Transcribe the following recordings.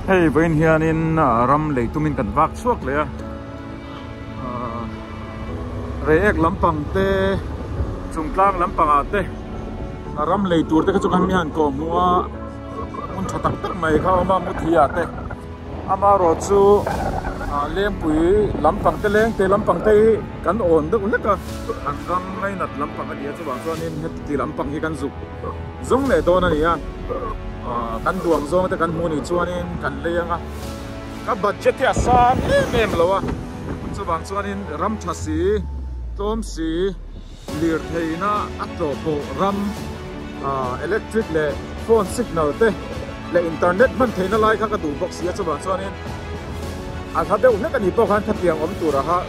Hei vawiin hianin ram lei tumin kan vak chhuak leh a, Reiek lampang te, Chungtlang lampangah te ram lei tur te kha chu kan awm hian ka awm hmua hmun tha tak tak mai kha a awm a, Muthiah te amaherawh chu Lengpui lampang te leng te lampang te hi kan awn deuh hlek a, an ram ngainat lampang a nia chuvang chuanin heti lampang hi kan zuk. zung leh dawn a ni a, kan duang zawng te kan hmuh nih chuanin kan lei anga ka budget hi a sang em em lo a, chuvang chuanin ram tha si, tlawm si, lirtheihna a tlawhpawh ram, electric leh phone signal te leh internet hman theihna lai kha ka duh bawk si a, chuvang chuanin a hla deuh hlek a nih pawh khan khatiang awm tur ah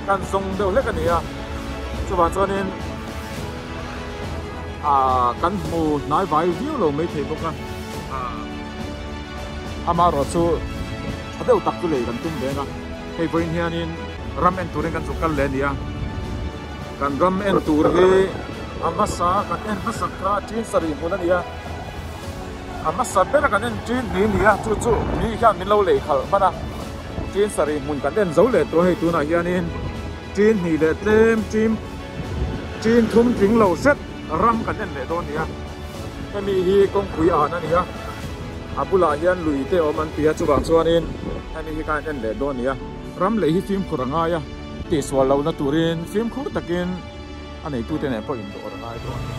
khan zawng deuh hlek a ni a, chuvang chuanin. Ahh kan hmu hnai vai viau lo mai thei bawk a. Ahh ama erawh chu tha deuh tak chu lei kan tum veng a. Hei pawhin hianin ram en turin kan chu kal leh a nia. Kan ram en tur hi a hmasa kan en hmasa kha ṭin sa rih hmun a nia. A hmasa bera kan en ṭin hnih nia chu chu mi hian min lo lei khalh hman a. Ṭin sa rih hmun kan en zo leh tawh a hei tunah hianin. Ṭin hnih leh tlem ṭim ṭin thum tling lo set ram kan en leh dawn nia. Hemi hi kawngpui an a nia. A bulah hian lui te awm an tia chuvang chuanin hemi hi kha an en leh dawn nia. Ram lei hi fimkhur a ngai a. Tihsual lohna turin fimkhur takin. A neitute nen pawh indawhra ngai dawn a ni.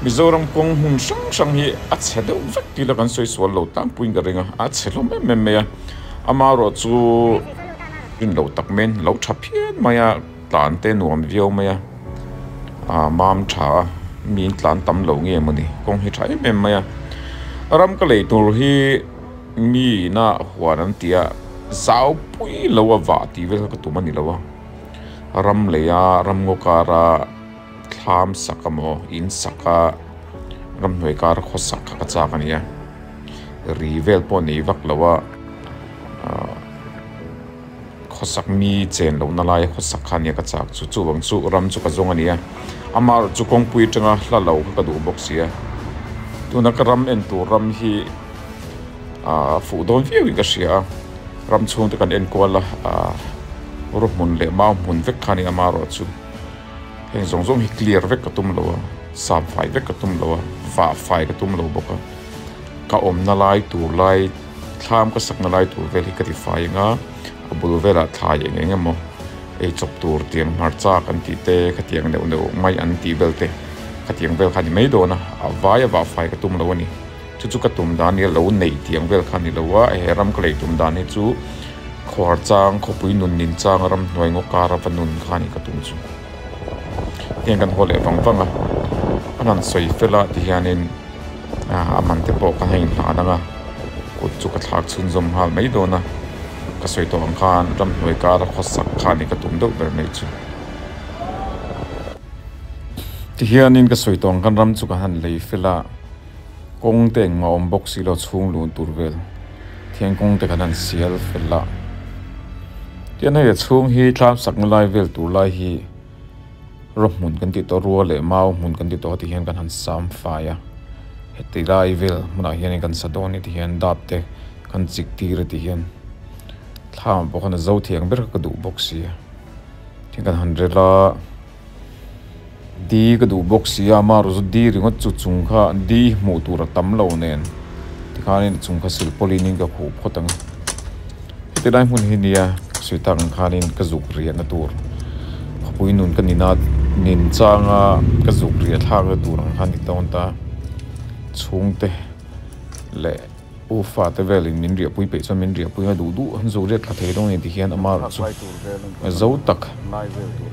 Mizoram kawng hmun hrang hrang hi a chhe deuh vek tih ila kan sawi sual lo tlangpuiin ka ring a, a chhe hlawm em em mai a. Ama ruah chu rin loh tak maiin lo tha phian mai a, tlan te nuam viau mai a, aa mam tha a, miin tlan tam lo nge mawni, kawng hi tha em em mai a. Ram ka lei tur hi miin a huan an ti a, zaupui lo a vah tih vel kha ka tum a ni lo a. Ram leia ramngaw kara thlam sak emaw in sak a ramhnuai kara khaw sak kha ka chak a nia. Ri vel pawh nei vak lo a khaw sak mi chen loh na laia khaw sak kha nia ka chak chu. Chuvang chu ram chu ka zawng a nia. Amaherawh chu kawngpui atanga hla lo kha ka duh bawk sia. Tuna ka ram en tur ram hi. Ahh fuh dawn viau in ka hria a, ram chhungte kan en kual a, ahh ru hmun leh mau hmun vek kha a ni a mah ruah chu, heng zawng zawng hi clear vek ka tum lo a, sap fai vek ka tum lo a, fah fai ka tum lo bawk a, ka awmna lai tur lai thlam ka sakna lai tur vel hi ka ti fai ang a, a bul velah thlai eng eng emaw ei chawp tur tiang hmarchak an tih te, khatiang neuh neuh mai an tih vel te, khatiang vel kha a ni mai dawn a, a vai a vah fai ka tum lo a ni. Chu chu ka tum dan hi a lo neih tih ang vel kha a ni lo a, he ram ka lei tum dan hi chu khuar chang, khawpui nunnin chang a ram hnuai ngawk kara va nun kha a ni ka tum chu. Hetiang kan haw leh vang vang a, a han sawi fel a ti hianin a man te pawh kan ha in hlan ang a, kut chu ka thlak chhunzawm nghal mai dawn a, ka sawi tawh ang khan ram hnuai kara khaw sak kha a ni ka tum deuh ber mai chu. Ti hianin ka sawi tawh ang khan ram chu kan han lei fel a. Kawng te engmah awm bawk si lo chhung luh tur vel thian kawng te kan han sial fel a. Tian hei a chhung hi tlam sak na lai vel tur lai hi rawhmun kan tih tawh rua leh mau hmun kan tih tawh heti hian kan han sam fai a. Heti lai vel hmunah hian kan sa dawn heti hian dap te kan chik tir a tih hian thlam pawh khan a zo thiang ber ka duh bawk si a. Thian kan han rel a. Di ka duh bawk sia, ma rawzut di ringawt chu chung kha di hmuh tur a tam lo nen tikhanin chung kha silh pawlinin ka khuh phawt ang a. Heti lai hmun hi nia Sweetheart ang khanin ka zuk riahna tur khawpui nun ka nina nin changa ka zuk riahthlakna tur ang kha ni dawn ta. Chhungte leh. U fate velin min riahpui peih chuan min riahpui a duh duh, zuriat tla thei dawn a ni ti hian ama erawh chu zo tak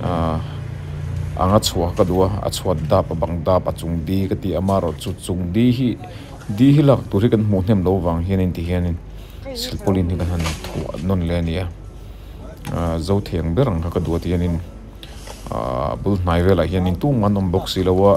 ahh anga chhuah ka duh a, a chhuat dap a bang dap a chung di ka ti a, ama erawh chu chung di hi di hi lak tur hi kan hmuh hnem lo vang hianin ti hianin silpaulin hi kan han thuah nawn leh a nia ahh zo theng ber ang kha ka duh a ti hianin ahh a bul hnai velah hian tung an awm bawk si lo a.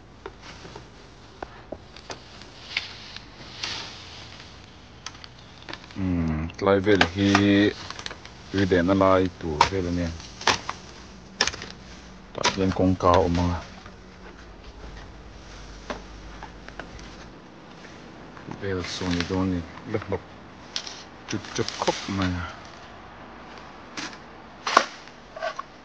tlai vel hi tui dehna lai tur vel a nia tah hian kawngka a awm a vel chu a ni dawn a ni la hnawk tut tep khawp mai a.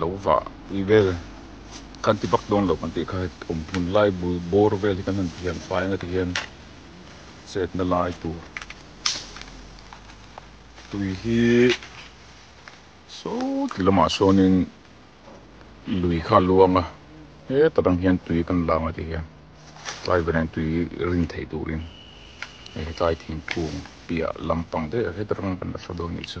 lo vah pui vel kan ti bak dawn lo kan tih kha awm hmun lai bul bawr vel hi kan han thiam fai ang a ti hian chetna lai tur tui hi sawti lamah sawnin lui kha a luang a heta tang hian tui kan lang a ti hian tlai vanah hian tui rin theih turin hei tlai thingkung piah lampang daih ah heta tang kan la thla dawn nih chu.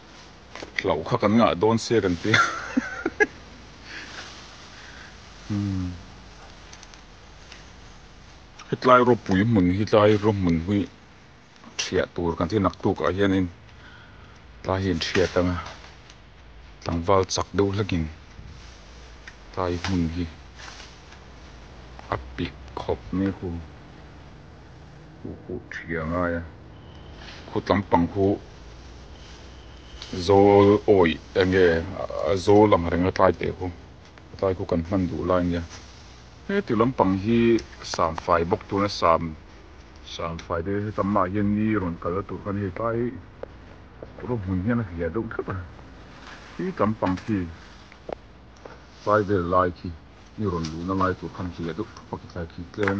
Hlauh kha kan ngah dawn sia kan ti a umm hetlai ropui hmun hi tlai raw hmun hi thiah tur kan ti naktuk ah hianin tlai hi an thiat ang a tlangval chak deuh hlagin tlai hmun hi a pik khawp mai hu. Pu Pu Thiangaia khutlam pang khu Zawl awi enge a zawl ang reng a tlai teh khu a tlai khu kan hman duh lai nia heti lampang hi sam fai bawk tuna sam sam fai te hetam mah hian ni rawn kal a tur khan hei tlai rawh hmun hian a hliah deuh deuh a hi tlam pang khi tlai vel lai khi ni rawn luh na lai tur khan hliah deuh thup a khi tlai khi tlem.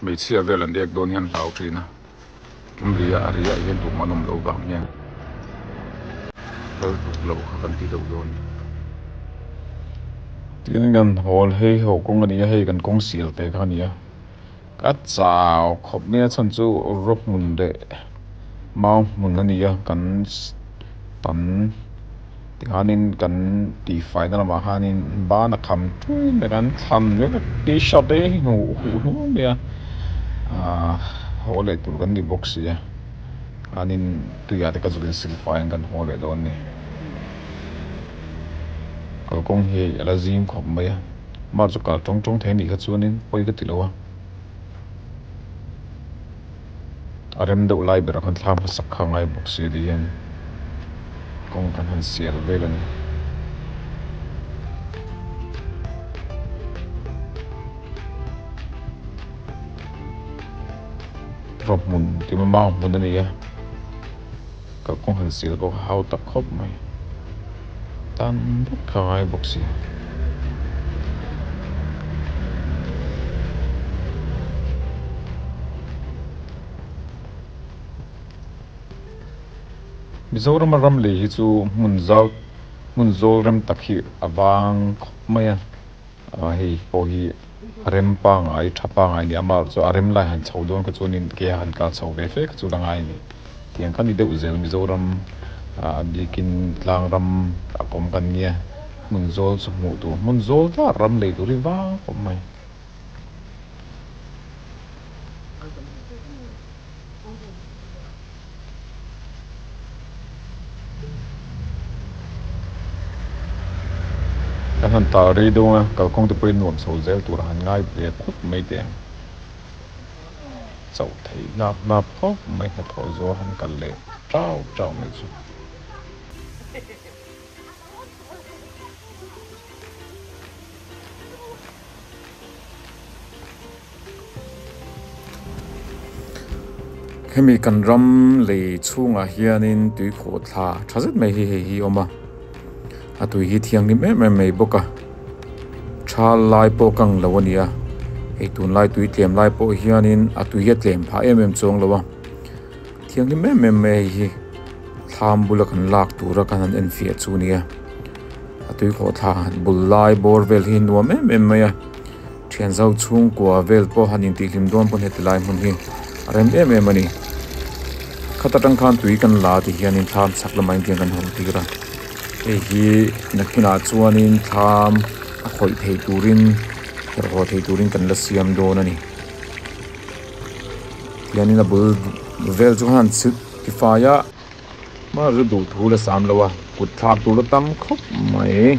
hmeichhia vel an dek dawn hian hlau ṭhin a tum ri a, a ri ah hian tum an awm loh vang hian hal tuk loh kha kan ti deuh dawn ni. Tin kan hawl hei ho kawng a ni a, hei kan kawng sial te kha a ni a, ka chau khawp mai a chhan chu rawhmun leh mau hmun a ni a, kan tan. Tikhanin kan tihfai na lamah khanin ban a kham tui mai a, kan thlan viau viau a, t-shirt te hi hnu huh hnu mai a, aaa haw leh tur kan ni bawk si a, tikhanin tuiah te ka zut in silfaiin kan haw leh dawn a ni. Kalkawng hi a la zing khawp mai a, mahse chu kal tawng tawng thei a nih kha chuanin pawi ka ti lo a. A rem deuh lai ber khan thla hmasak kha ngai bawk si adi hian kawng kan han sial vel a ni. Vawhmun timama hmun a ni a. Ka kawng han sil bawk a hau tak khawp mai. Tan vek kha ngai bawk si. Mizorama ram lei hi chu hmun zau hmun zawlrem tak hi a vang khawp mai a. A hei pawh hi a rem pangai tha pangai a ni a, amaherawh chu a rem lai han chho dawn kha chuan in kei a han kal chho ve fe kha chu ka ngai a ni tih ang kha ni deuh zel Mizoram ah a bikin tlang ram a awm kan nia hmun zawl chu hmuh tur hmun zawl tlat ram lei tur hi vang khawp mai. Kan han tal rei dawn a, kalkawng te pawhin nuam chho zel tur a han ngai ve khawp mai teh ang. Chauh theih lak lak khawp mai hnathawh zawh a han kal leh tau tau mai chu. Hemi kan ram lei chhungah hianin tui khawh thla tha zet mai hi hei hi a awm a, a tui hi thianghlim em em mai bawk a, tha lai pawh ka ang lo a nia, hei tunlai tui tlem lai pawh hianin a tui hi a tlem phah em em chu a awng lo a, thianghlim em em mai a hei hi, thlam bula kan lak tura kan han enfiah chu a nia, a tui khawh thla bul lai bawr vel hi a nuam em em mai a. Thianzo chhungkua vel pawh han intihlîm dâwn pawh heti lai hmun hi a rem êm êm a ni. Khat aṭang khân tui kan la tih hianin thlam chhak lamah in tiang kan haw tîr a. Hei hi na hmunah chuanin thlam a khawih thei tûrin, herhawh thei tûrin kan la siam dâwn a ni. Tihianin a bul vel chu han silh ti fai a. Hmara chu duh thu la sâm lo a, kutthlâk tûr a tam khawp mai.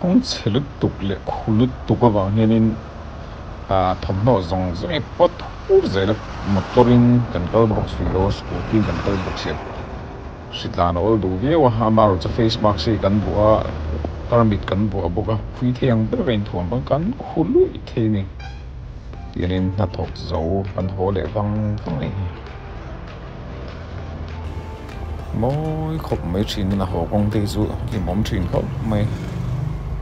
Kawng chhe lutuk leh khu lutuk avang hianin ahh thawmhnaw zawng zawng hi paw thur zai la, motor in kan kal bawk si lo, scooty in kan kal bawk si lo, hri tlan a awl duh viau a, ama erawh chu face mask hi kan vuah a, tarmit kan vuah bawk a, khuitheiang ber a inthuam vang, kan khu luih thei a ni, tiangin hnathawk zo kan haw leh vang vang a ni. mawi khawp mai thin in a haw kawng te hi chu hlim awm thin khawp mai.